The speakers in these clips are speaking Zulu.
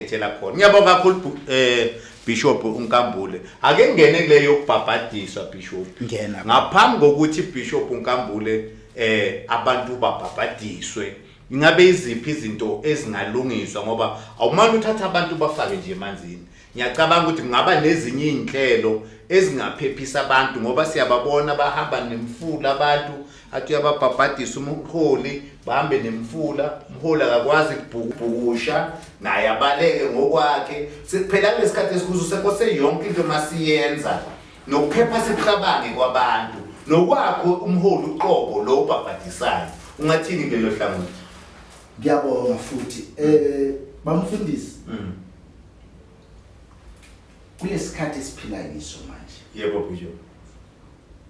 ngithela khona ngiyabonga kakhulu eh Bishop uNkambule ake ngene kule yokubhabhadiswa Bishop ngena ngaphambi kokuthi Bishop uNkambule eh abantu babhabhadiswe ingabe iziphi izinto ezingalungiswa ngoba awumani uthatha abantu bafake nje emanzini ngiyacabanga ukuthi kungaba nezinye izinhlelo ezingaphephisa abantu ngoba siyababona bahamba nemfula abantu athi uyababhabhadisa umholi bahambe nemfula umholi akakwazi kubhukubhukusha naye abaleke ngokwakhe sekuphela kulesikhathi esikhuzo sekose yonke into masiyenza nokuphepha sikucabange kwabantu nokwakho umholi uqobo lo ubhabhadisayo ungathini kulelo hlangothi ngiyabonga futhi eh bamfundisi mm. kulesikhathi esiphila kiso manje yebo bhujo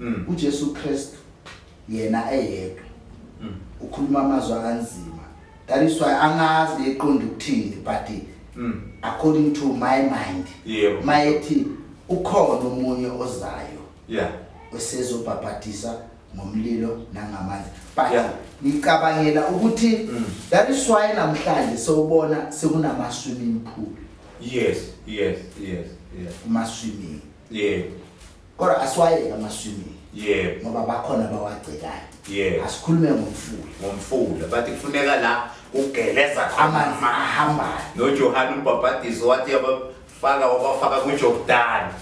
Mm. uJesu Kristu yena eyedwa mm. ukhuluma amazwi anzima that is why angazi eqonda ukuthini but mm. according to my mind yeah. mayethi ukhona omunye ozayo yeah esezobhabhadisa ngomlilo nangamanzi but yeah. ngicabangela ukuthi mm. that is why namhlanje sewubona sekunama swimming pool yes yes yes yes kuma swimming yeah kodwa asiwayeke amaswimming yebo ngoba bakhona bawagcikayo yebo asikhulume ngomfula ngomfula but kufuneka la kugeleza amanzi ahambayo nojohane umbhabhadiso wathi yabafaka wabafaka kujordani